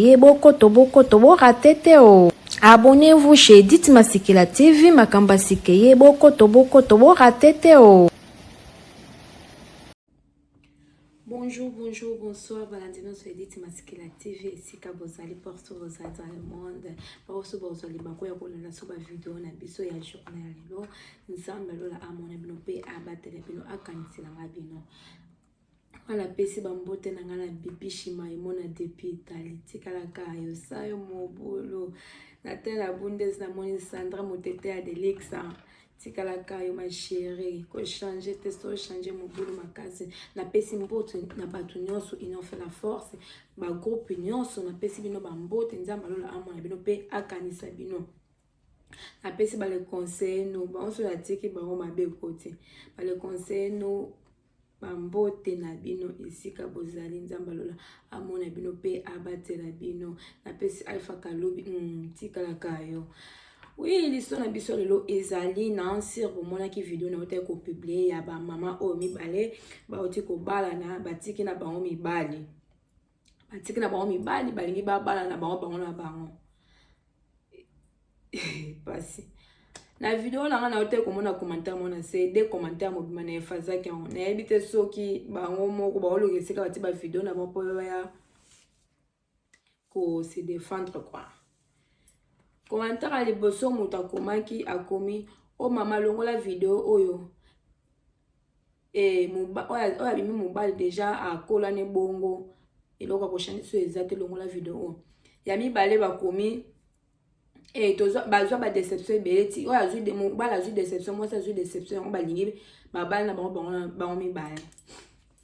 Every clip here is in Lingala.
Ye bokoto bokoto bo rate te o. Abonnez-vous chez Edith Masikila TV makambo ya sika ye bokoto bokoto bo rate te o. Bonjour, bonjour, bonsoir, balandi nyonso ya Edith Masikila TV esika bozali partout bozali dans le monde baoso bozali bako ya kolanda so bavideo na biso ya journée ya lelo nzambe lola amona bino mpe abatela bino akanisela nga bino nga napesi bambote na nga na bibi shimaimo na depi itali tikalaka yosayo mobulu na tela bundes namoni sandra motete ya delixa tikalaka yo ma chérie kochange te so change mobulu makasi napesi mbote na bato nyonso union fait la force bagroupe nyonso napesi bino bambote nzambe alola amona bino mpe akanisa bino napesi bale conseille no banso natiki bango mabe kote bale conseille no bambote na bino esika bozali nzambe alola amona bino mpe abatela bino napesi alpha kalubi mm, tikalaka yo oui liso na biso lelo ezali na nsir bomonaki video na otaki kopiblie ya bamama oyo mibale bauti kobalana batiki na bango mibali batiki na bango mibali balingi babala na bango bango na bango pasi na video na nga na yo te komona commentaire mona se de commentaire mobima na efazaki yango nayebi te soki bango moko baoloka esika bati ba video na bango mpo baya ko se defendre quoi commentaire ya liboso moto akomaki akomi o oh mama longola video oyo Eh, moba, oyo abimi mobali deja akola ne bongo eloko ya koshani so eza te longola video oyo ya mibale bakomi eh, bazwa badeception ebele ti oyo azwi mobali azwi deception mwasi azwi deception yango balingi babali na bango bango mibale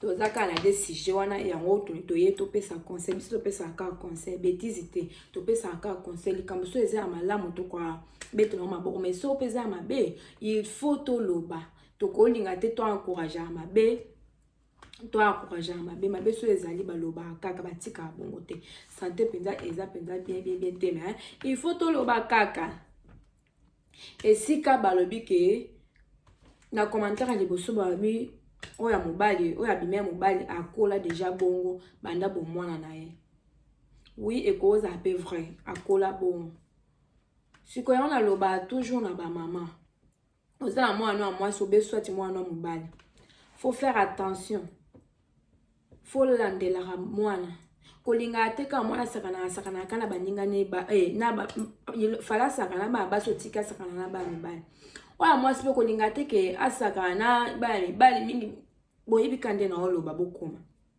toza kaka na de sujet wana yango toye topesa conseil biso topesaka kaka conseil betise te topesaka kaka conseil likambo so eza ya malamu tokobetela yango maboko mai so mpe eza ya mabe il faut toloba tokolinga te to encourageaka mabe to encourageaka mabe mabe soki ezali balobaka kaka batikaka bongo te sante mpenza eza mpenza bien bien bien te me il faut toloba kaka esika balobi ke na commentaire liboso balobi oyo ya mobali oyo abima ya mobali akola deja bongo banda bomwana na ye wi ekozala mpe vrai akola bongo sikoyo yango nalobaka toujours na bamama oza na mwana ya mwasi obe swati mwana ya mobali faut faire attention faut landelaka mwana kolingaka te kaka mwana asakanaka asakanaka ka na baninga ne ba, eh, na ba, fala asakana bana basi otika asakana na bana mibali oyo mwasi mpe kolingaka te ke asakana na bana mibali mingi boyebika nde na oloba bokoma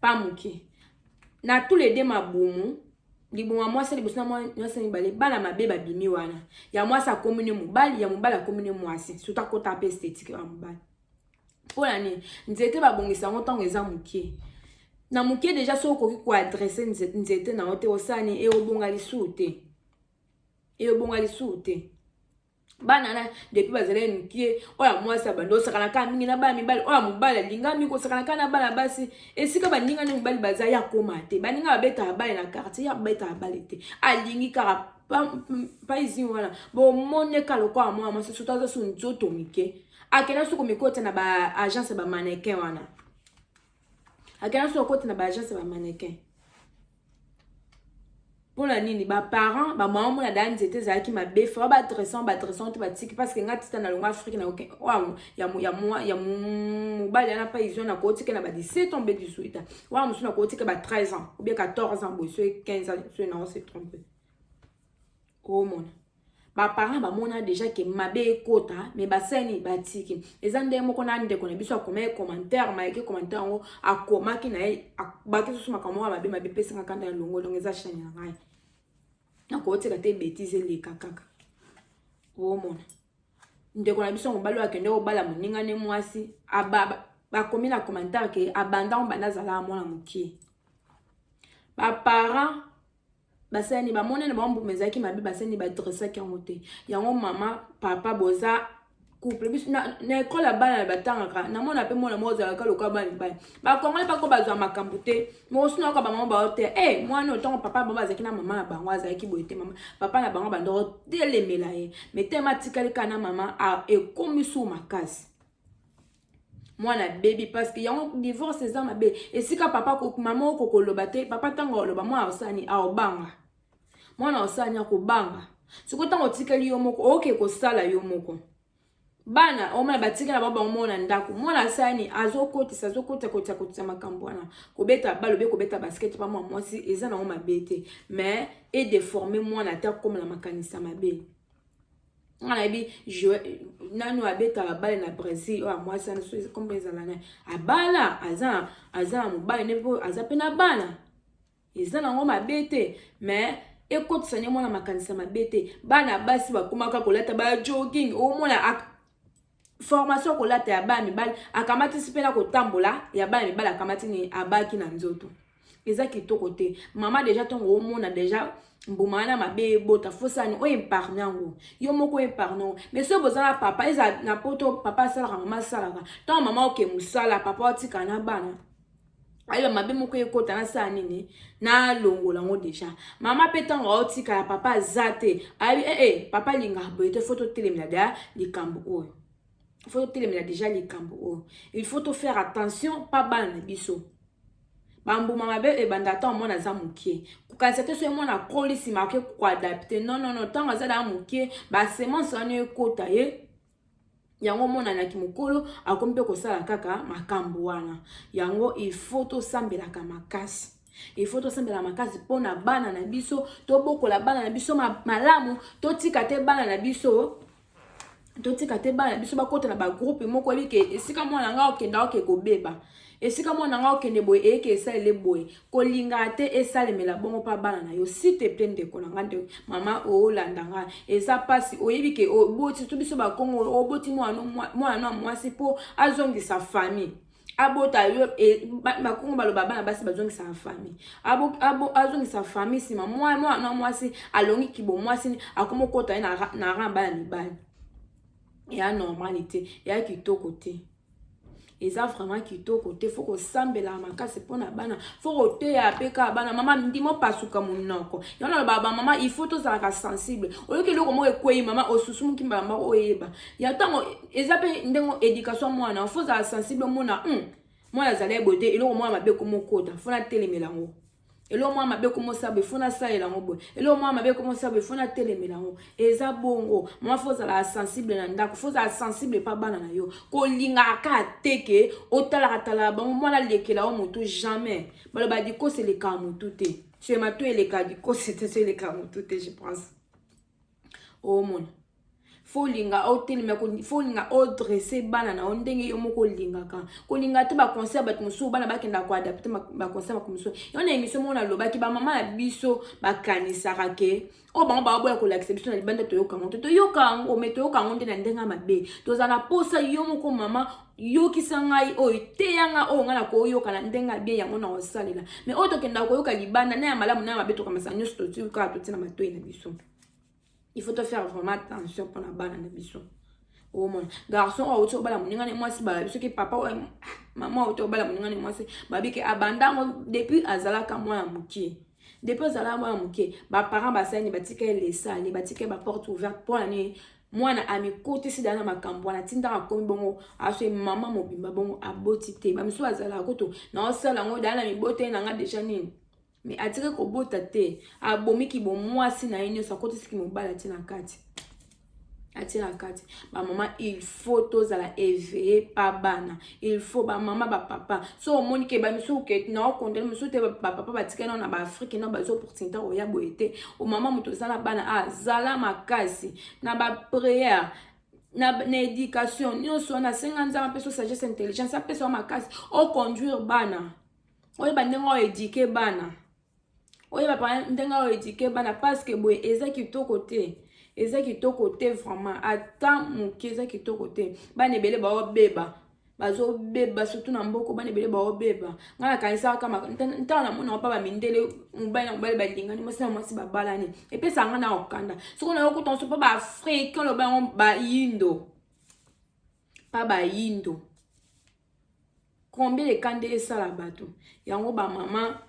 pa moke na tous les deux mabumu liboma mwasi liboso na mwasi ya mibale bana mabe babimi wana ya mwasi akomi ne mobali ya mobali akomi ne mwasi sutu akota mpe estetike ya mobali mpo na nini nzete babongisa yango ntango eza moke na moke deja soki okoki koadrese nzete na yo te osala nini eyobonga lisusu te eyobonga lisusu te bana na depuis bazalaki mikie oyo ya mwasi abandi osakanaka mingi na bana mibali oyo ya mobali alingami kosakanaka na bana basi esika baninga na mibali baza ya koma te baninga babetaka bale na quartier ya babetaka bale te alingi kaka paizin wana bomoni eka lokola mwana mwasi soto aza so nzoto mike akenda so komikota na baagence ya bamanekin wana akela so akoti na baagence ya bamannequin mpo na nini baparent bamama omona daa nzete ezalaki mabe fa badressant badressant te batiki parce que nga tita na longo afrike na ya mobali yana mpa izwa na kootika na ba 17 ans mpe 18 ans wana mosusu na kootika ba 13 ans obie 14 ans boye soki 15 ans soki na ose trompe omona ba parents bamona deja ke mabe ekota me basani batiki eza ndenge moko na ndeko na biso akomaki commentaire mayeke commentaire yango akomaki na ye baki susu makambo moko mabe mabe pesanga kanda ya longo longo eza shani na ngai nakotika te betise eleka kaka omona ndeko na biso mobali oyo akende kobala moninga ne mwasi bakomi na commentaire ke abanda obanda azalaka mwana mokie baparent basani bamonani bango mbuma ezalaki mabe basani badressaki yango te yango mama papa boza couple biso na ekole ya bana batangaka namona mpe mwana moko ozalaka lokola bana mibali bakongole bako bazwa makambo te mokosuna yoka bamama bao te e eh, mwana ntango papa na bango azalaki na mama na bango azalaki boye te mama papa na bango bandoko telemela ye metema atikali kaka na mama ekomi suu makasi mwana abebi parce que yango divorce eza mabe esika papa mama oko koloba te papa ntango oloba mwana osani aobanga mwana osani akobanga sikoyo ntango otikali yo moko oke kosala yo moko bana omona batikala ba bango moko na ndako mwana asani azokotisa azokotisa kotisa kotisa makambo wana kobeta balo be kobeta basket pa mwa mwasi eza nango mabe te mais edeforme mwana ata akoma na makanisa mabe nga nayebi nanu abetaka bale na brésil oyo amwasi wana soki kombo ezala nani abala aza aza na mobali nde mpo aza mpe na bana eza nango mabe te mais ekotisa nde mwana makanisa mabe te bana basi bakomaka kolata ba jogging omona formation ya kolata ya bana mibali akamatisi mpe na kotambola ya bana mibali akamati nini abaki na nzoto eza kitoko te mama deja ntongo omona deja mbuma wana mabe ebota fosani oyo epargne yango yo moko epargne yango mais soki boza na papa eza na poto papa asalaka mama asalaka ntango mama oke mosala papa otika na bana ayeba mabe moko ekota nasala nini nalongola yango deja mama mpe ntango aotikala papa aza te ayebi ee eh, eh, papa linga boye te fo totelemela deja likambo oyo fo totelemela deja likambo oyo il faut tofaire attention mpa bana na biso bambuma mabe ebanda ntango mwana aza moke kokanisa te soki mwana akoli nsima ake koadapte non non non ntango aza daa moke basemence wana ekota ye yango omona na kimokolo akomi mpe kosala kaka makambo wana yango il faut tosambelaka makasi il faut tosambela makasi mpo na bana na biso tobokola bana na biso malamu totika te bana na biso totika te bana na biso bakota na bagroupe moko oyebi ke esika mwana ngai okenda oke kobeba esika mwana ngai okende boye eyeke esalele boye kolingaka te esalemela bongo mpa bana na yo site ple ndeko na ngai nde mama olanda ngai eza mpasi oyebi ke oboti to biso bakongo oboti mwana na mwasi mpo azongisa famille abota yo e, bakongo baloba bana basi bazongisaka famille azongisa famille nsima mwana na mwasi alongi kibo mwasi akoma okota ye na ran bana mibali eya normali te eya kitoko te eza vraiment kitoko te fo kosambela makasi mpo na bana fo koteya mpe kaka bana mama ndima opasuka monoko yango naloba bamama il faut tozalaka sensible oyoki eloko moko ekwei mama osusumuki mbala moko oyeba ya ntango eza mpe ndenge éducation mwana fo ozala sensible omona hmm, mwana azali eboye te eloko mwana mabe komokota fo natelemela yango eloko mwa mabe komosala boye fo nasalela yango boye eloko mwa mabe komosala boye fo natelemela yango eza bongo mwa fo ozalaka sensible na ndako fo ozala sensible epa bana na yo kolingaka kaka te ke otalaka talaka bango mwana alekela yo motu jamais baloba dikosi elekaka motu te sema to elekaka dikosi te so elekaka motu te je pense omona fo olinga otelema fo olinga odresse bana na yo ndenge yo moko olingaka kolinga te baconseil ya bato mosusu bana bakenda koadapte baconseil mako mosusu yango na émission moko nalobaki bamama na biso bakanisaka ke oyo bango baoboya kolakisa biso na libanda toyoka yango te toyoka yango me toyoka yango nde na ndenge ya mabe tozala na mposa yo moko mama yokisa ngai oyo teya ngai oyo ngai nakoyoka na ndenge ya bien yango nakosalela me oyo tokendaka koyoka libanda na ya malamu na ya mabe tokamasa nyonso totii kaka totii na matoi na biso il faut tofaire vraiment attention mpo na bana na biso omona garçon oyo auti obala moninga ne mwasi balabi soki papa oyo ah, mama auti obala moninga ne mwasi babi ke abanda yango depuis azalaka mwana mokie depuis ozalaka mwana moke baparent basani batika ye lesani batika ye baporte ouverte mpo na nini mwana amikotisi dala na makambo wana tindaka akomi bongo aswe mama mobimba bongo aboti te bamisusu bazalaka kutu naosala yango dala na miboteli na nga deja nini me atiki kobota te abomi kibomwasi na ye nyonso akotisi kimobala ti na kati atie na kati bamama il faut tozala eveye pa bana il faut bamama bapapa so omoni ke bamisusu ke naokondane mosusu te bapapa batikali nao na baafrike nao bazi opportunité koya boye te omama moto oza na bana azala ah, makasi na bapriere na, na éducation nyonso wana asenga nzambe apeso sagesse intelligence apesa makasi oconduire bana oyeba ndenge oedike bana oyeba pa ndenge awa edike bana paske boye eza kitoko te eza kitoko te vraiment ata moke eza kitoko te bana ebele baobeba bazobeba surtout na mboko bana ebele baobeba ngai nakanisaka ntango namona opa bamindele mobali na mobali balingani mwasi na mwasi babalani epesa ngai na okanda soki nayo kuta nso mpo baafricain loba yango bayindo mpa bayindo combien de cas nde esala bato yango bamama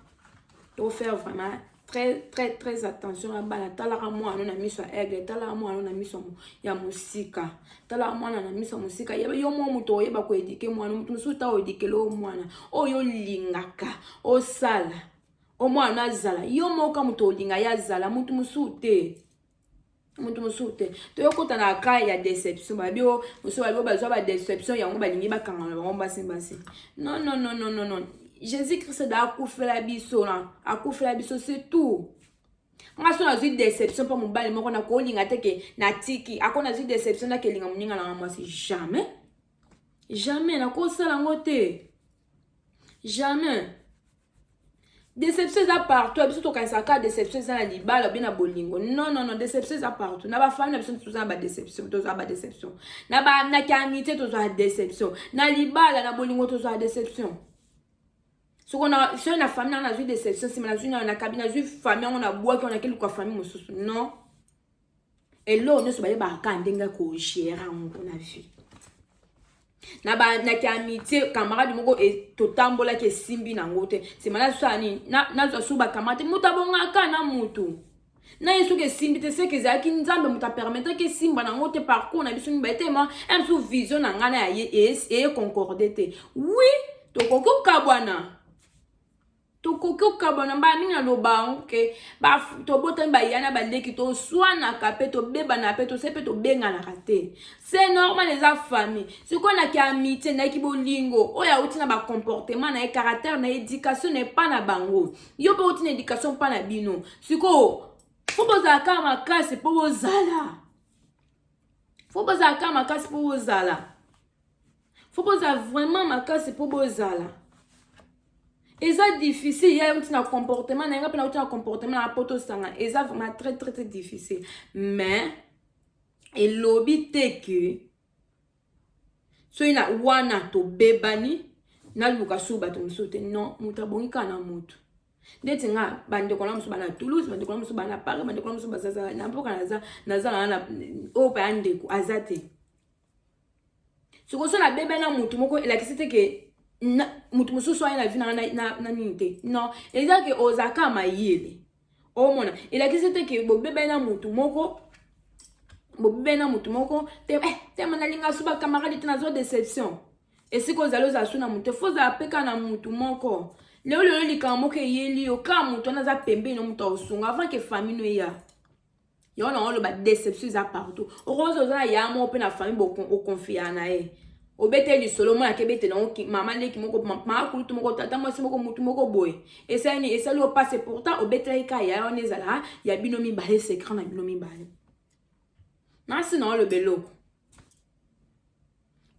to faire vraiment très très très attention na bana talaka mwana na miso ya aigle talaka mwana na miso ya mosika talaka mwana na miso ya mosika yo mwa moto oyeba koedike mwana moto mosusu ta oedikele oyo mwana oyo olingaka osala omwana azala yo moka moto olinga ye azala moto mosusu te moto mosusu te toyokota na cas ya déception babi o mosusu babi o bazwa badéception yango balingi bakangana bango basi basi non non non non non jésus christ da akufela biso na akufela biso c'est tout nga so nazwi déception mpo mobali moko nakolinga te ke natiki ako nazwi déception nakelinga moninga nanga mwasi jamais jamais nakosala yango te jamais deception eza partout ya biso tokanisaka kaka deception eza na libala obe na bolingo non non non deception eza partout na bafami na biso toza na badeception tozwa badeception na bandaki ya amitié tozwa deception na libala na bolingo tozwa deception soko na soki na fami nanga nazwi deception nsima nazwi nayo nakabi nazwi fami yango nabwaki yango nakeluka fami mosusu non eloko nyonso bayebaka kaka ndenge ya kogere yango na vie na bandaki amitié camarade moko e, totambolaki esimbi nango te nsima nazwa nini nazwa su bakamate moto abongaka na motu na ye soki esimbi te seke ezalaki nzambe moto apermetaki esimba nango te parcours na biso mibale te ma msu vision na ngai na eye concorde te wi tokoki kokabwana tokoki kokabwana mbala mingi naloba yango ke tobotami baya na baleki toswanaka mpe tobebana mpe tose mpe tobenganaka te se normal eza famille sikoyo naki amitie naki bolingo oyo auti na bacomportement na ye caractère na éducation na epa na bango yo mpe outi na éducation mpa na bino sikoyo fo bozala kaka makasi mpo bozala fo bozala kaka makasi mpo bozala faut bozala vraiment makasi mpo bozala eza difficile ya yauti na comportement na yanga mpe nauti na comportement na poto osanga eza vraiment très très très difficile mais elobi te ke soki na wana tobebani naluka sur bato mosusu te non moto abongi kaka na moto ndeti nga bandeko na mosusu bana toulouse bandeko na mosusu bana paris bandeko na mosusu bazazala na mpoka naza naza na oyo paya ndeko aza te soko so nabeba na motu moko elakisi te ke motu mosusu aye na vi nanga na nini te non eza ke oza ka mayele omona elakisi te ke bobebani na motu moko bobebani na motu moko te eh, tema nalinga so bakamarade te nazwa deception esika ozali ozala so na motu fo ozala mpe kaka na motu moko lelo lelo likambo moko eyeli yo kaka motu wana aza pembeni na motu aosunga avant ke famille no eya yango nango oloba deception eza partout okoki oza na ya moko mpe na famille okonfiya na ye obete lisolo mwana akebete nango mama leki moko mama kulutu moko tata mwasi moko mutu moko boye esali nini esali opase pourtant obetelaki ka ya wana ezala ya bino mibale secret na bino mibale nasi na oloba eloko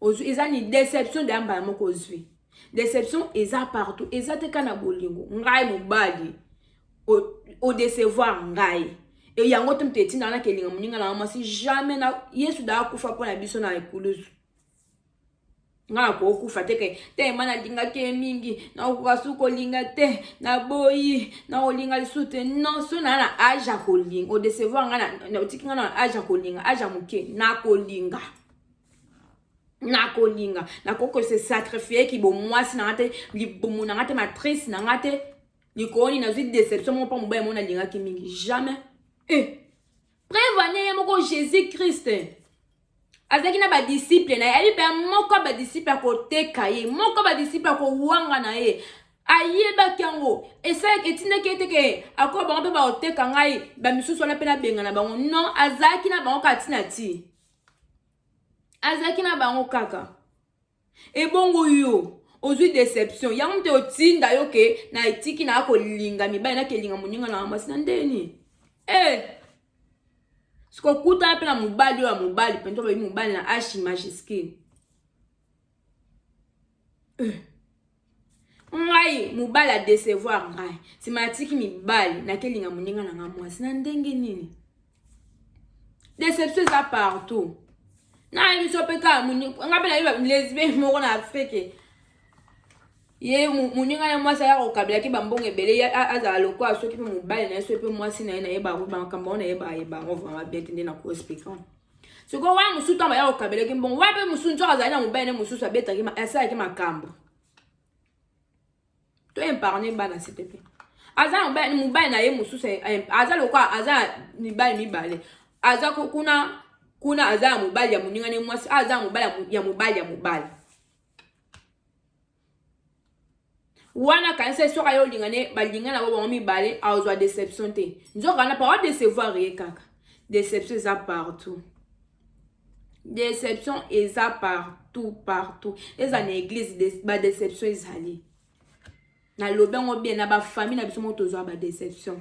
ozwi eza ni deception deya mbala moko ozwi deception eza partout eza te ka na bolingo ngai mobali odecevoir ngai e yango te moto etinda naka elinga moninga nanga mwasi jamais na yesu da akufa mpo na biso na ekulusu nga nakokufa te ke te ma nalingaki ye mingi nakokoka su kolinga te naboyi nakolinga lisusu te non so naa na age ya kolinga odecevoir nga otiki nga na age ya kolinga age ya moke nakolinga nakolinga nakoki kose sacrifie kibomwasi na nga te libumu na nga te matrice na nga te likoni nazwi deception moko mpa mobali moko nalingaki mingi jamais e eh. prevane ye moko jésus christ azalaki na badisiple na ye ayebi mpe moko ya badisiple akoteka ye moko ya badisiple akowanga na ye ayebaki yango esalaki etindaki ete ke akoya bango mpe baoteka ngai bamisusu wana mpe nabenga na bango non azalaki na bango kati na ti azalaki na bango kaka ebongo yo ozwi deception yango mpe otinda yo ke na etiki na kolinga mibali nakelinga moninga na mwasi na ndeni e eh! sikokutana mpe na mobali oyo ya mobali mpenza olobi mobali na ashi majiskine eh! ngai mobali adecevoir ngai nsima natiki mibali nakelinga moninga na ngai mwasi na ndenge nini deception eza partout nayebi biso mpe kaka ngai mpe nayebi lesbien moko na afrike ye moninga na mwasi aya kokabelaki bambongo ebele azala lokola soki mpe mobali na ye soki mpe mwasi na ye nayeba makambo oyo nayeba yeba yango vraimen bien te nde nakoexplika sikoyo wana mosusu ntango baya kokabelaki mbongo wana mpe mosusu nzoka azali na mobali ne mosusu abetaki asalaki makambo to epargne bana site mpe aza na mobali mobali na ye mosusu aza lokola aza na mibali mibale aza kuna kuna aza ya mobali ya moninga ne mwasi aza ya mobali ya mobali ya mobali wana kanisa eswaka yo olingane balingana bo bango mibale aozwa deception te nzoka wana papa decevoir ye kaka deception eza partout deception eza partout partout eza na eglise de, badeception ezali nalobi yango bien na bafamille na biso moko tozwa badeception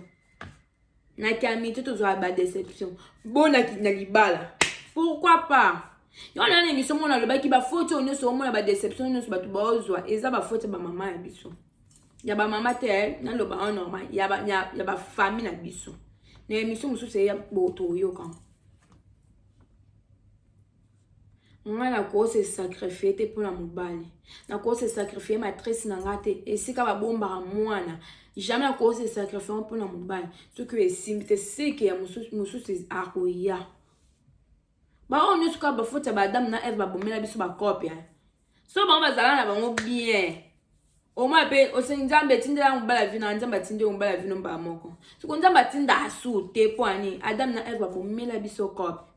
na kiamiti tozwaka ba deception bona na libala pourquoi pas yango na na émission mona alobaki bafoti oyo nyonso omona badeception nyonso bato baozwa eza bafoti ya bamama ya biso ya bamama te eh, naloba en normal ya bafamille na biso na émission mosusu eya boto oyoka nga nakoki se sacrifie te mpo na mobali nakoki se sacrifie matrice na nga te esika babombaka mwana jamais nakoki se sacrifie mpo na mobali soki oyo esimbi te seke ya mosusu akoya baoyo nyonso kaka bafoti ya baadamu na eve babomela biso bakope so bango bazala na bango bien omwa mpe osengi nzambe etindela yango mobala vino nzambe atindeli mobala vino mbala moko soko nzambe atinda asu te mpo ani adamu na eve babomela biso kope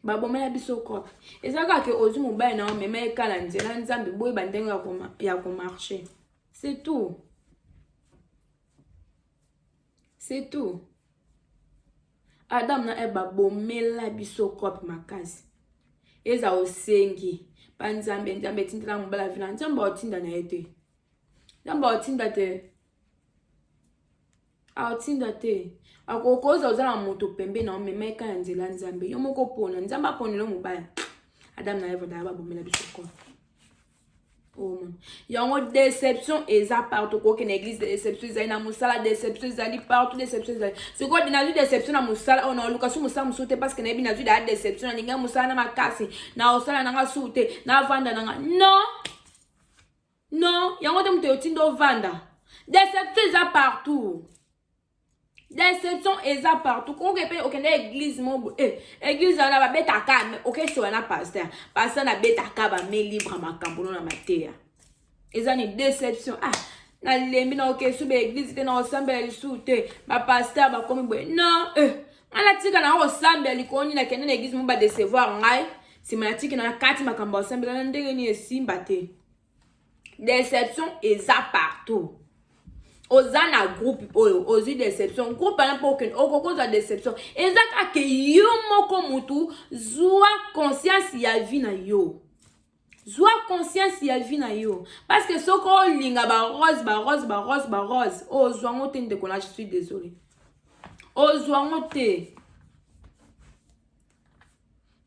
babomela biso kope eza kaka ozwi mobali na yo mema ekala nzela nzambe boyeba ndenge ya komarche c'est tout c'est tout adam na eve babomela biso kope makasi eza osengi pa nzambe nzambe etindela mobala vina nzambe aotinda na ye te nzambe aotinda te aotinda ah, te akokoza oza na moto pembe na omema eka ya nzela nzambe yo moko pona nzambe aponela mobaya adam na eva daya babomela biso kona omona oh, yango deception eza partout okoki na église deception ezali na mosala deception ezali partout deception ezali sikoyo nazwi deception na mosala oyo naoluka su mosala mosusu te parce que nayebi nazwi daya deception nalingi ya mosala na makasi na osala nanga su te navanda nanga non Non, yango te moto otinda ovanda. Deception eza partout. Deception eza partout. Koke pe okende église mo eh église wana ba beta ka mais oke so wana pasteur. Pasteur na beta ka ba me libre makambo na mateya. Eza ni deception. Ah, na lembi na oke sube église te na osambela lisu te. Ba pasteur ba komi boye. Non, eh. Ana tika na osambela likoni na kende na église mo ba décevoir ngai. Sima na tiki na kati makambo osambela na ndenge ni esimba te. deception eza partout oza na groupe oyo ozwi deception groupe wana mpo okokozwa deception eza kaka yo moko motu zwa conscience ya vie na yo zwa conscience ya vie na yo parce que soki olinga barose barose barose barose ozwa ngo te ndeko na je suis désolé ozwa ngo te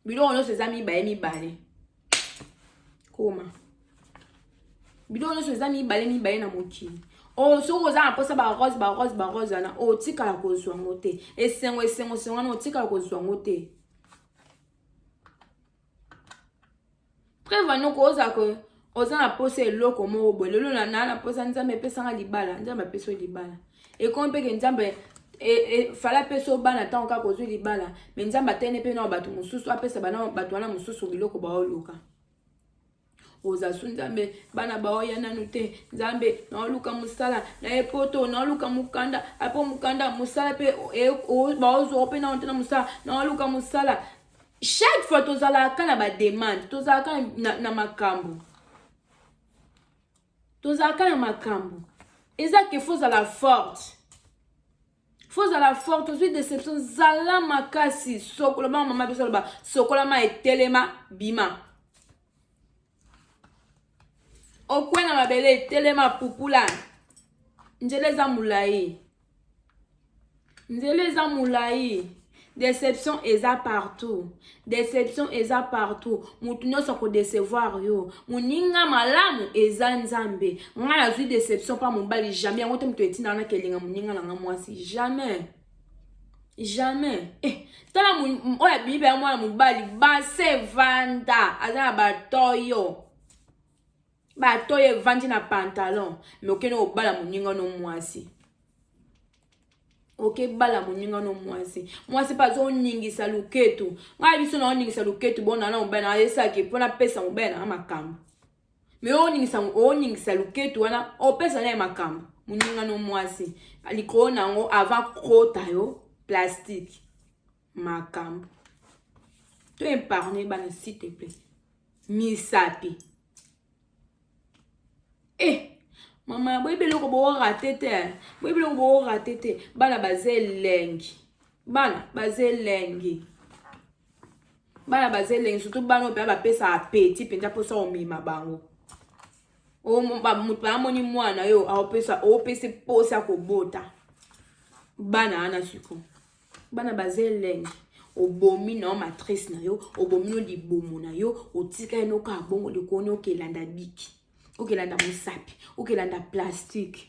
biloko nyonso eza mibale mibale koma biloko nyonso eza mibale mibale na mokili oyo oh, soki oza na mposa barose barose barose wana otikala oh, kozwa yango te esengo esengo esengo wana otikala kozwa yango te Preuve anoko ko oza ko oza na posa eloko moko boye lelo na na posa nzambe epesanga libala nzambe apesi libala ekomi mpe ke nzambe e, e, fala apesa bana ntango kaka ozwi libala me nzambe atene mpe nao bato mosusu apesa bana bato wana mosusu biloko baoluka oza su nzambe bana baoya nanu te nzambe naoluka mosala na ye poto naoluka mokanda apo mokanda mosala mpe e, baozwa mpe nao te na mosala naoluka mosala chaque fois tozalaka ka na bademande tozalaka na, na makambo tozalaka na makambo eza ke fo ozala forte fo ozala forte ozwi deception zala makasi sokola bana mama biso aloba sokola ma etelema bima okwe na mabele telema pupula nzela eza molai nzela eza molai deception eza partout deception eza partout motu nyonso akodecevoir yo moninga malamu eza nzambe ngai nazwi deception mpa mobali jamais yango te moto etinda wana kelinga moninga na ngai mwasi jamais jamais eh, tala oyo abimi mpenza mwana mobali base vanda aza na batoyo batoyo evandi na pantalon me okende kobala moninga no mwasi okebala moninga no mwasi mwasi mpe azoningisa loketu ngai biso naoningisa loketu bonana mobali na ayesalaki mpo napesa mobali nanga makambo me oningisa oningisa luketu wana opesa naye makambo moninga no mwasi likolo na yango ava kota yo plastique makambo to epargne bana s'il te plaît misapi eh mama boyebi eloko boorate te boyebi eloko boorate te bana baza elengi bana baza elengi bana baza elengi surtout bana oyo mpenza bapesa apeti mpenza mposa omema bango moto amoni mwana yo aopesa opesi mposa kobota bana wana siko bana baza elengi obomi na yo matrice na yo obomi no libumu na yo otika ye nokaa bongo likoni okelanda biki okelanda mosapi okelanda plastike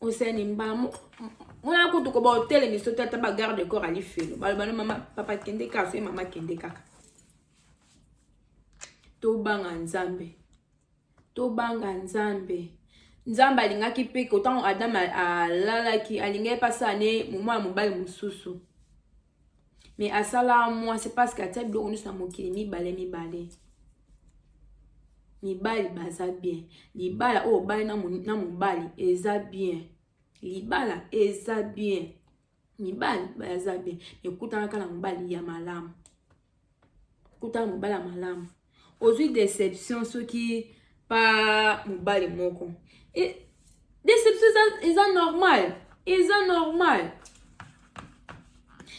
osani mbamo mwana kutu koba otelemi so te ata bagarde de corps alifelo baloba no mama papa kende kaka soki mama kende kaka tobanga nzambe tobanga nzambe nzambe alingaki mpe kotango adam alalaki alingaki mpe asala ne moma ya mobali mosusu mais asala mwa c'est parce que atia biloko nyonso na mokili mibale mibale mibali baza bien libala oyo obali na mobali eza bien libala eza bien mibali baza bien ekutanaka na mobali ya malamu kutana mobali ya malamu ozwi deception soki pa mobali moko e, deception eza, eza normal eza normal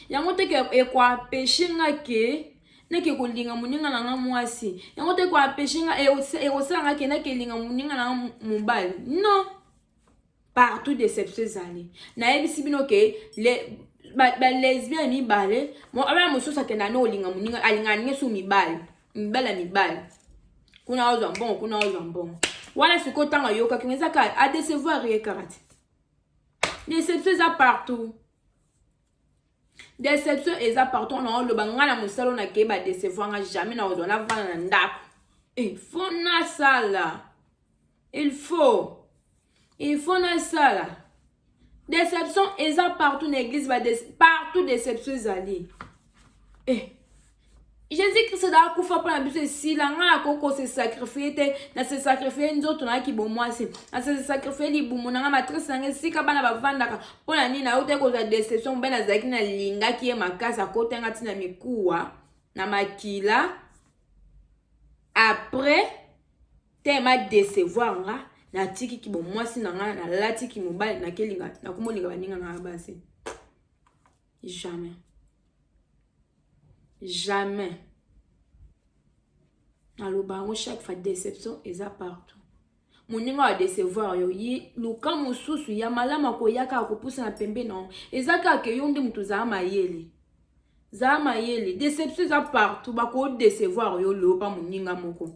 yango te ekoapeshe nga ke nake kolinga moninga na nga mwasi yango te ekoapeshe nga ekosala nga ke nake linga moninga na nga mobali non partout deception ezali nayebisi bino ke le balesbian mibale abana mosusu akenda no olinga moninga alingaka ndenge su mibale mibale ya mibale kuna ozwa mbongo kuna ozwa mbongo wana sikoyo ntango ayokaki ngo eza kaka adecevoir ye kaka te deception eza partout deception eza partout na oloba ngai na mosala oyo nakei badecevoir nga jamais na ozwa navanda na ndako il faut nasala il faut il faut nasala deception eza partout na eglise bade partout deception ezali eh. jesus kristo da akufa mpo na biso esila ngai nakoki kosesakrifie te nasesakrifie nzoto nayaki bomwasi nasesakrifie libumu na ngai matrice na ngai esika bana bavandaka mpo na nini nayo te kozwa deception mobali nazalaki nalingaki ye makasi akota ngai ntina mikuwa na makila après te ma decevoir nga natiki kibomwasi na ngai nalatiki mobali nakelinga nakomolinga baninga na ngai basi Jamais. Jamais. naloba yango chaque fois déception eza partout moninga ya decevoir yo ye luka mosusu ya malamu akoya kaka kopusa na pembe na yo eza kaka yo nde moto ozala mayele zala mayele déception eza partout bakodecevoir yo loba moninga moko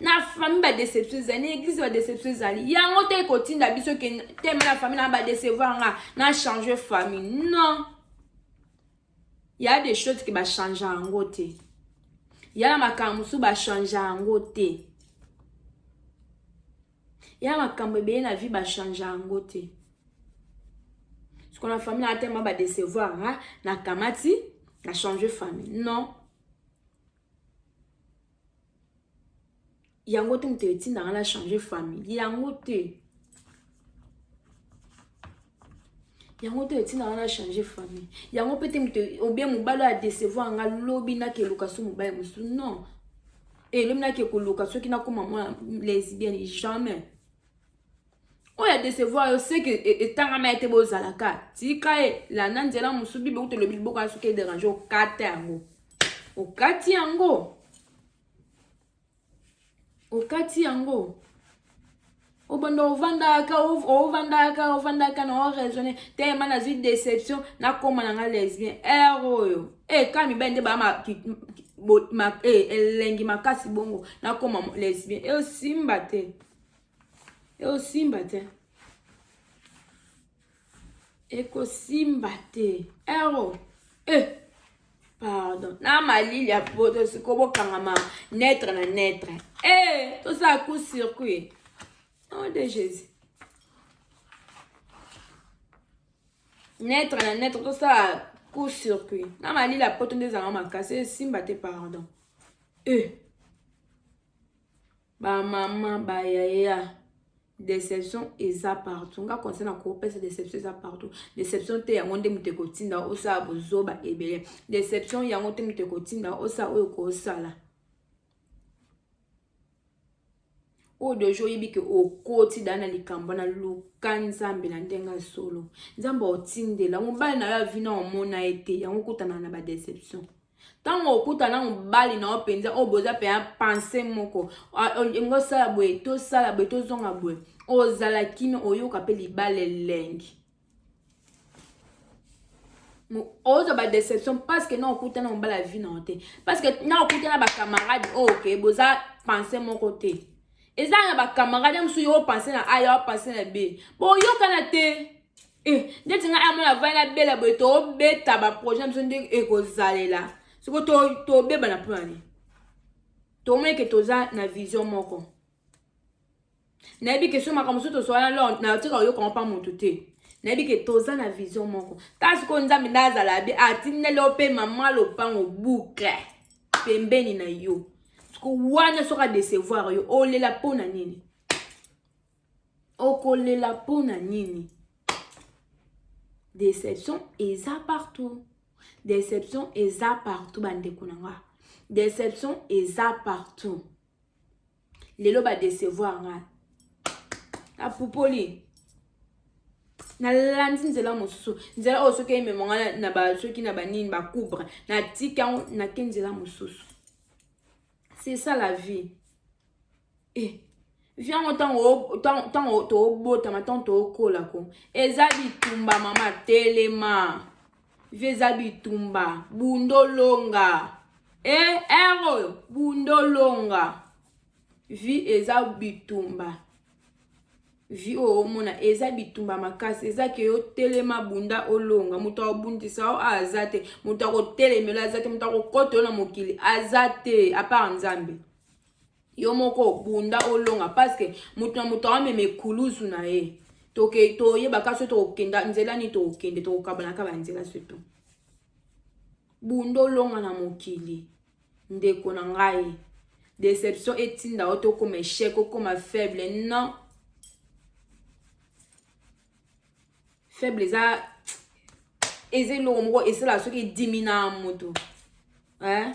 na famille ba deception ezali na eglise ba deception ezali yango te ekotinda biso ke teme na famille na ba decevoir nga na change famille non ya des choses ke bachange yango te ya na makambo mosusu bachange yango te ya makambo ebele na vie bachange yango te sikona famille na teme ba decevoir nga na kamati na change famille non yango te moto etinda nga na changer famille yango te yango te etinda nga na changer famille yango mpe te moto obien mobali oyo adecevoir nga lobi nakeluka so mobali mosusu non elobi eh, nakekoluka soki nakoma mwana lesbienne jamais oyo ya decevoir yo seke etangama ye te bozalaka tika ye landa nzela mosusu bible kutu elobi liboko ya soki ederange okata yango okati yango okati yango obanda ovandaka ovandaka ovandaka na oraisonne telema nazwi déception nakoma na nga lesbien ere oyo e eh, ka mibali nde baa eh, elengi makasi bongo nakoma lesbien eosimba te ekosimba te ekosimba te ero eh. pardon na malili ya poto siko bokangama netre na netre eh, tosala coup circuit nom de jésus netre na netre tosala coup circuit na malili ya poto nde ezalaka makasi esimba te pardon eh. Ba maman ba yaya deception eza partout nga conseil na kopesa deception eza partout deception te yango nde moto ekotinda osala bozoba ebele deception yango te moto ekotinda osala oyo kosala oyo deja oyebi ke okoti daa na likambo na luka nzambe na ndenge ya solo nzambe otindela mobali na yo avina omona ye te yango okutana na badeception ntango okuta na mobali na yo mpenza oyo boza mpenza pense moko olingi osala boye tosala boye tozonga boye ozala kino oyoka mpe libala elengi ozo ba deception parce que na okuta na mobali ya vie na yo te parce que na okuta na bacamarade oyo oh, oke boza pense moko te eza na bacamarade ya mosusu yo opense na a ya opense na b boyokana te Eh, ndeti ngai amona avai na bela boye tobeta baprojet na biso nde ekozalela soko tobeba na mpona nini tomoni ke toza na vision moko nayebi ke so makambo mosusu toswana lor natika oyokanga mpa motu te nayebi ke toza na vision moko ta sikoyo nzambe nde azala be atindeli yo mpe mama lopango boucle pembeni na yo siko wana soki adecevoir yo olela mpo na nini okolela mpo na nini deception eza partout deception eza partout bandeko na nga deception eza partout lelo badecevoir nga apupoli nalandi nzela mosusu nzela oyo soki emema nga na ba soki na banini bakubre natika yango nake nzela mosusu c'est ça la vie eh. vi yango ntango tobotama ntango tokola ko eza bitumba mama telema vi eza bitumba bundolonga e eh, ere oyo bundolonga vi eza bitumba vi oyo omona eza bitumba makasi eza ke yo telema bunda olonga moto akobundisa yo aza te moto akotelemela aza te moto akokota yo na mokili aza te apart nzambe yo moko obunda olonga paske moto na moto amema ekulusu na ye toke toyebaka so tokokenda nzela nini tokokende tokokabanaka banzela soto bunda olonga na mokili ndeko na ngai deception etinda yo tokoma echec okoma faible non faible eza eza eloko moko esalaka soki edimina moto eh?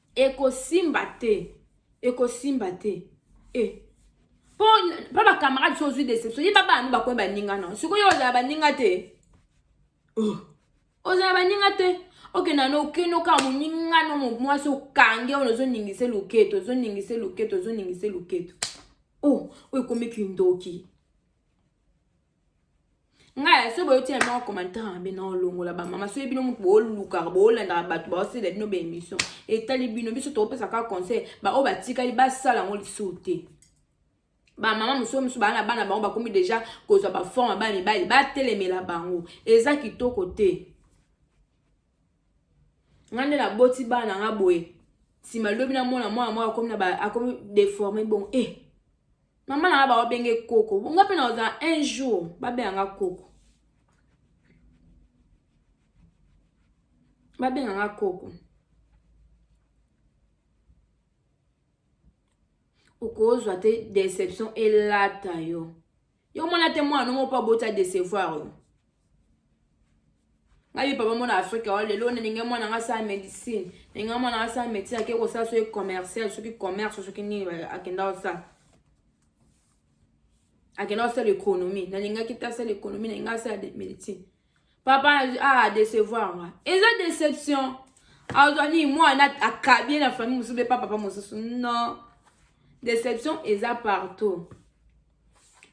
ekosimba te ekosimba te e eh. mpo mpo bacamarade so ozwi deception yeba bana no bakomi baninga na sikoyo ozala baninga te oh. ozala baninga te okenda no okende okaa moninga no mwasi okange oyo ozoningise loketo ozoningise loketo ozoningise loketo o oh, oyo ekomi kindoki ngai soki boyoti ya moko commentaire mabe na olongola bamama soki bino moto boolukaka boolandaka bato baosela bino baémission etali bino biso tokopesa kaka conseil baoyo batikali basala yango lisusu te bamama mosusu mosusu baa na bana bango bakomi deja kozwa baforme bana mibali batelemela bango eza kitoko te ngai nde naboti bana nga boye nsima lobi namona mwana moko akomi deforme bongo e eh. mama na nga baobenge koko nga mpe nakozala un jour babenga nga koko babenga nga koko okozwa te deception elata yo yo omona te mwana no moko mpo aboti adecevoir yo ngai papa mona afrika wa lelo nalingi mwana nga asala médecine nalingi mwana asala médecine ake kosala soki commercial soki commerce soki nini akenda kosala akenda kosala économie nalingaki te asala économie nalingi asala médecine papa ah décevoir nga eza déception azwa nini mwana akabi ye na famille mosusu mpe pa papa mosusu non déception eza partout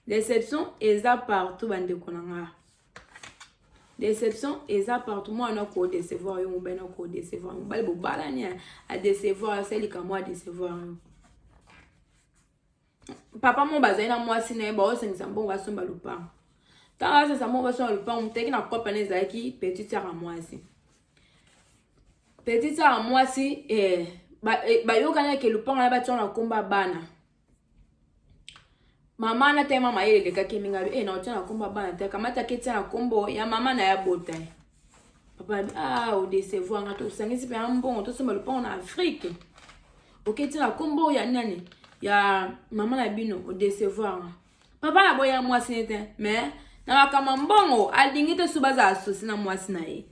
deception eza partout bandeko na nga deception eza partout mwana na kodecevoir yo mobali na kodecevoir mobali bobalani adecevoir asali likambo adecevoir yo papa moko bazali na mwasi na ye baosengisa mbongo basomba lopango ntango asengisa mbongo basomba lopango moteki na kopana ezalaki petit sara mwasi petit sara mwasi eh, eh, bayokanaki ba lopango na batyana na komba bana mama na tayema mayele elekaki mingalu e eh, na otia na kombo ya bana te akamataki etia na kombo ya mama na ya bota ye papa abi ah odecevoir nga tosangisi mpe ya mbongo tosomba lopango na afrike oke etia na kombo ya nani ya mama na bino odecevoir nga papa na boya mwasi ne te mais na makambo mbongo alingi te so bazala sosi na mwasi na ye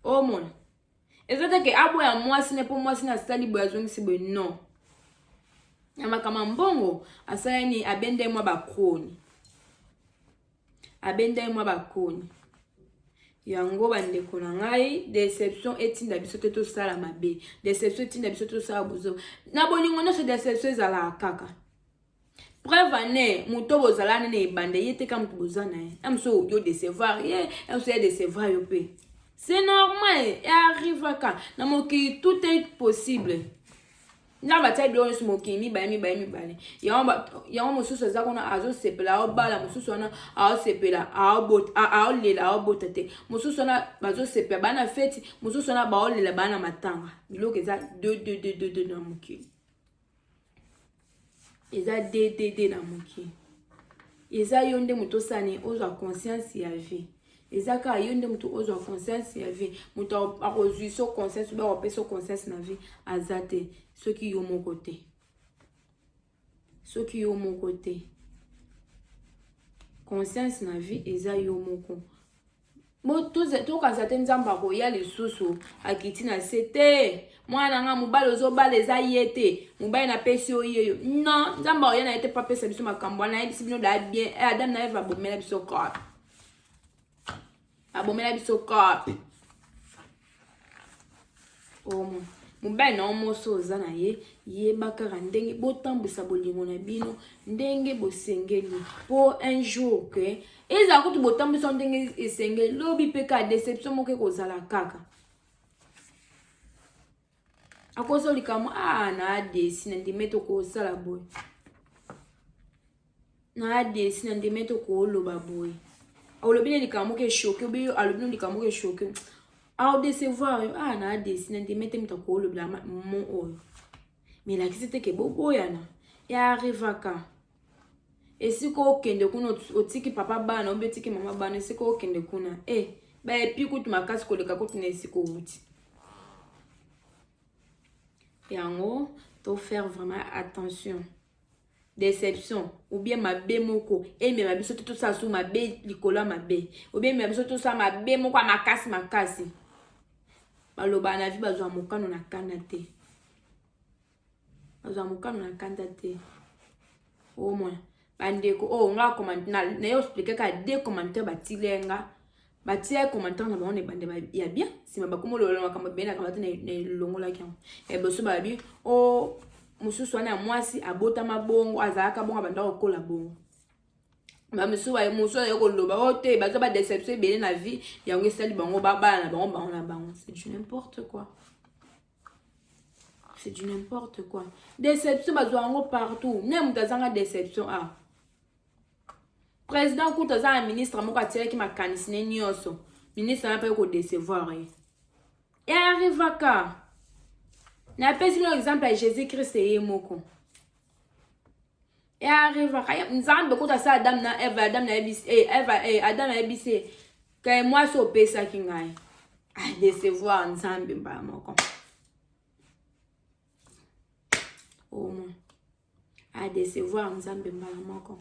omona oh, eza te ke aboya mwasi ne mpo mwasi ne asali boye azongisi boye non na makambo ya mbongo asala nini abenda ye mwa bakoni abenda ye mwa bakoni yango bandeko na ngai deception etinda biso te tosala mabe deception etinda biso te tosala bozo na bolingo nyonso deception ezalaka kaka preuve ane moto bozalani na ebanda ye te ka moto boza na ye ya mosusu okoki odecevoir ye ya mosusu ya decevoir yo mpe c'est normal earrivaka na mokili tout est possible ntango batia biloko nyonso mokili mibale mibale mibale yango mosusu aza kuna azosepela aobala mosusu wana aosepela aolela aobota te mosusu wana bazosepela baa na feti mosusu wana baolela baa na matanga biloko eza 2 na mokili eza ddd na moke eza yo nde moto osani ozwa conscience ya vie eza kaka yo nde moto ozwa conscience ya vie moto akozwi so conscience obe akopesa so conscience na vie aza te soki yo moko te soki yo moko te conscience na vie eza yo moko tokanisa te nzambe akoya lisusu akiti na se te mwana na ngai mobali ozobala eza ye te mobali napesi yo yeyo non nzambe akoya na ye te mpo apesa biso makambo wana ayebisi bino da bien eh, adam na eve abomela biso corp abomela biso corp omo mobali na yo mosi oza na ye yeba kaka ndenge botambwisa bolingo na bino ndenge bosengeli mpo un jour ke ezala kutu botambwisa ndenge esengeli lobi mpe kaka deception moko ekozala kaka akozo likambo a ah, na adesi na ndimi ete okosala boye na desi na ndeme tokoloba boye olobi na likambo moko eshoke obi alobi na likambo moko eshoke aodecevoir yo ah na desi na ndeme te moto akolobela mo oyo melakisi te ke boboyana earrivaka esika okende kuna otiki papa bana obi otiki mama bana esika okende kuna e eh, baepi kutu makasi koleka kutu na esika owuti yango tofaire vraiment attention deception ou bien mabe moko emema biso te tosala su mabe likolo ya mabe ou bien emema biso tosala mabe moko ya makasi makasi baloba na vie bazwa mokano na kanda te bazwa mokano na kanda te omona bandeko oyo oh, nga commentaire nayo explike kaka de commentaire batile nga batia commentaire na bango na ebande ya bien nsima bakoma olola makambo ebele na kamati na elongolaki yango ya liboso balobi o oh, mosusu wana ya mwasi abotama bongo azalaka bongo abanda kokola bongo bamosusu mosusu azali koloba o oh, te baza badeception ebele na vie yango esali bango babala na bango bango na bango c'est du n'importe quoi c'est du n'importe quoi deception bazwa yango partout ne moto azanga deception ah President kutu aza na ministre moko atiraki makanisi ne nyonso. Ministre wana mpe kodecevoir ye. E arrivaka. Napesi bino exemple ya Jésus Christ ye moko. E arrivaka. Nzambe kutu asala Adam na Eva, Adam na ebisi, eh, Eva, eh, Adam na ebisi, kaye mwasi opesaki ngai. Ah, decevoir Nzambe mbala moko. Au moins. a decevoir nzambe mbala moko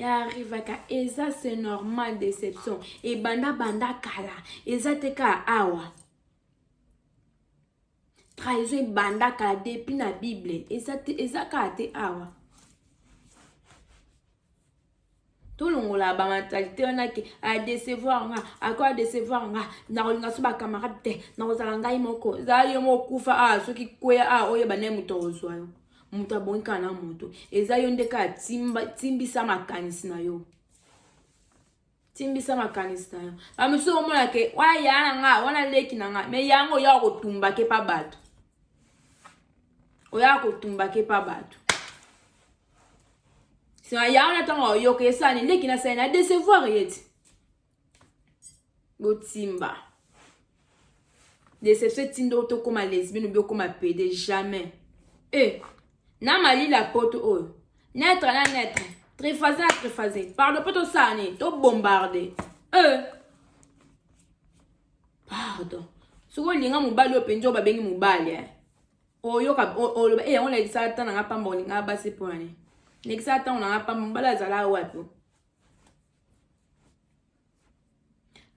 arrivaka eza c'est normal déception ebanda banda kala eza te ka awa trahison ebanda kala depuis na bible eza te eza kaka te awa tolongola ba mentalite wana ke adecevoir nga ako adecevoir nga nakolinga so bacamarade te nakozala ngai moko zala yo moko kufa awa soki kweya awa oyeba naye moto akozwa yo moto abongi kaka na moto eza yo nde kaka timbisa makanisi na yo timbisa makanisi na yo bamosusu okomona ke wana ya na nga wana leki na nga me yango oya kotumba ke pa bato oya kotumba ke pa bato sima ya wana ntango ayoka esani leki na sani na decevoir ye ti botimba deception etinda oyo tokóma lesbienne obi okóma pede jamais e eh, na malila poto oyo netre na netre trefase na trefase pardon mpo tosala nini tobombarde e eh. pardon soki olinga mobali oyo mpenza oyo babengi mobali eh. oyoka oloba eyango nalekisaka ntango na ngai pamba olingaka basi mpo na nini nalekisaka ntango na ngai pamba mbala azalaka wapi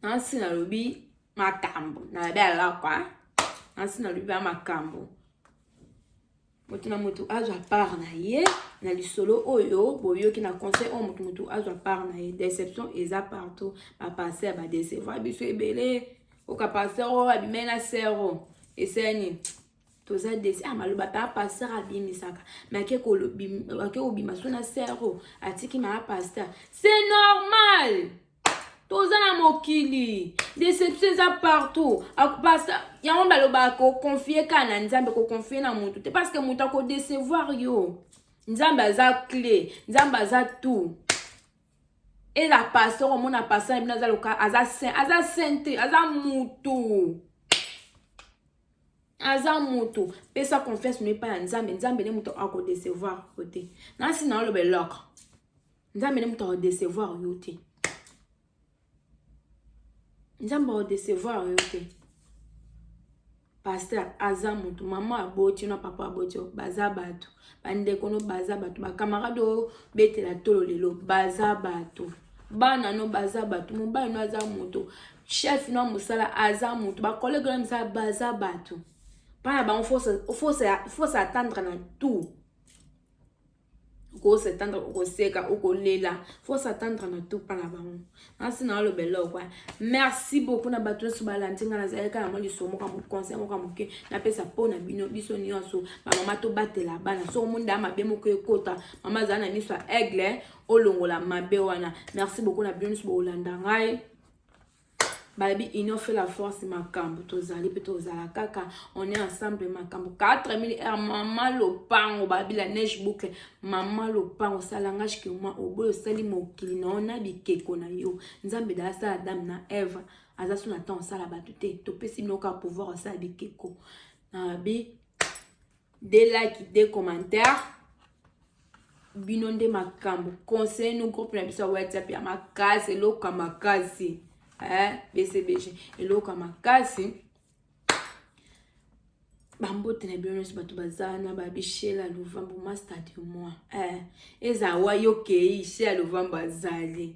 nasi nalobi makambo nalabi alakwa nasi nalobi ba makambo moto na moto azwa part na ye na lisolo oyo boyoki na conseil oyo moto moto azwa part na ye deception eza partout bapasse ya badecevoir biso ebele oka pasteur oyo abimai na sero eseni toza desi ah, maloba mpe apasteur abimisaka me ake kobima so na sero atiki maa pasteur c'est normal toza na mokili deception eza partout pasteur yango balobaka koconfie kaka na nzambe koconfie na motu te parce que moto akodecevoir yo nzambe aza clé nzambe aza tout et la pasteur omona pasteur bino aza loka aza saint aza saint te aza mutu aza mutu pesa confiance no epai ya nzambe nzambe nde moto akodecevoir yo te nasi na oloba eloko nzambe nde moto akodecevoir yo te nzambe aodecevoir yo te paster aza motu mama aboti na papa aboti baza bato bandeko no baza bato bakamarade oyo betela tolo lelo baza bato bana no baza bato mobali no aza moto chef no ya mosala aza moto bakolege na misala baza bato mpana bango fosa atendre na tout oko s'attendre okoseka okolela faut s'attendre na tout mpa na bango nasi na oloba eloko merci beaucoup na bato nyonso balandi ngai nazali kaka na mwa liso moka conseil moka moke napesa mpo na bino biso nyonso bamama tobatela bana soko mondaa mabe moko ekota mama azali na miso ya aigle olongola mabe wana merci beaucoup na bino nyonso bokolanda ngai balobi union fait la force makambo tozali mpe tozala kaka on est ensemble makambo 4000 heure mama lopango balobi la neige boucle mama lopango salangage ke moi oboyi osali mokili na yo na bikeko na yo nzambe da asala dame na eve aza so na temps osala bato te topesi bino kaka pouvoir osala bikeko na bi de like de commentaire bino nde makambo conseil no groupe na biso ya whatsapp ya makasi eloko ya makasi eh, bcbg eloko ya makasi bambote na bino nyonso bato baza na babishela lovambo master de moi eh, ezala wayo kei shela lovambo azali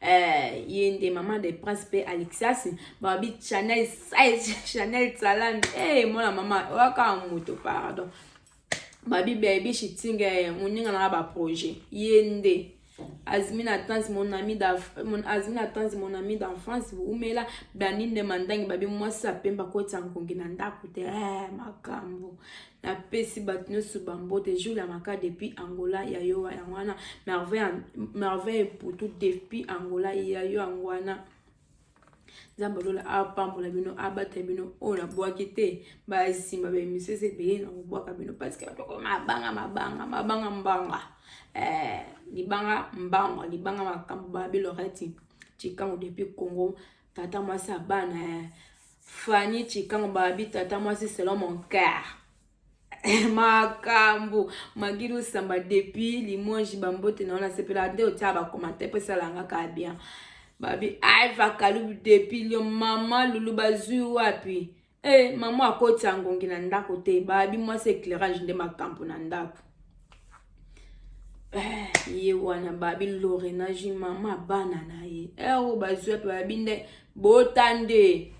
Eh, ye nde maman de prince mpe alexas babi chanel chanel salam hey, eh, mwana mama oyaka moto pardon babi bebi shitinga eh, moninga nanga baprojet ye nde azmi na tanzi mon ami azmi na tanzi mon ami d'enfance boumela blandine mandangi babi mwasi apemba kotya nkongi na ndako te makambo napesi bato nyonso bambote jour ya maka depuis angola ya yo yango wana merveille mputu depuis angola ya yo yango wana nzambe lola apambola bino abata bino oyo nabwaki te basimba baemisio eza ebele na kobwaka bino parceke bato bakoma mabanga mabanga mabanga mbanga eh, libanga mbanga libanga makambo babi loreti cikango depuis congo tata mwasi ya bana eh. Fanny Chikango babi tata mwasi selon mon cœur makambo magilu samba depuis limoges bambote na yo nasepela nde otia bakomante mpo esalanga ka bien babi aiva kalubu depuis lio mama lulu bazwi wapi e eh, mama akoti ya ngongi na ndako te babi mwasi éclairage nde makambo na ndako eh, ye wana babi lorenagi mama bana na ye ewo eh, oh, bazwi wapi babi nde bota nde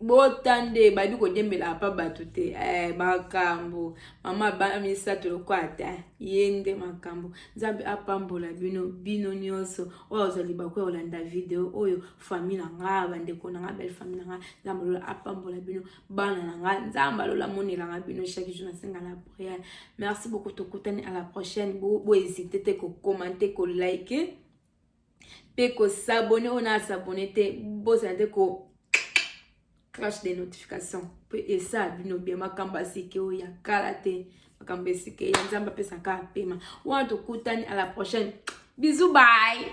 bota nde bayebi kodiembela apa bato te eh, makambo mama ba misato lokola te ye nde makambo nzambe apambola bino bino nyonso oyo azali bako ya kolanda video oyo fami na nga bandeko na nga belle fami na nga nzambe alola apambola bino bana na nga nzambe alola amonelanga bino chaque jour nasenga na priere merci beaucoup tokutani à la prochaine bohésite te kokomante kolike mpe ko s'abonner oyo na s'abonner te bosana te ko cloche de notification mpo esala bino bien makambo asike oyo ya kala te makambo esike ya nzambe apesaka apema wana tokutani à la prochaine bisous bye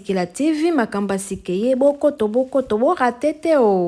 Kila TV makambo ya sik'ee bokoto bokoto bo rate te oo.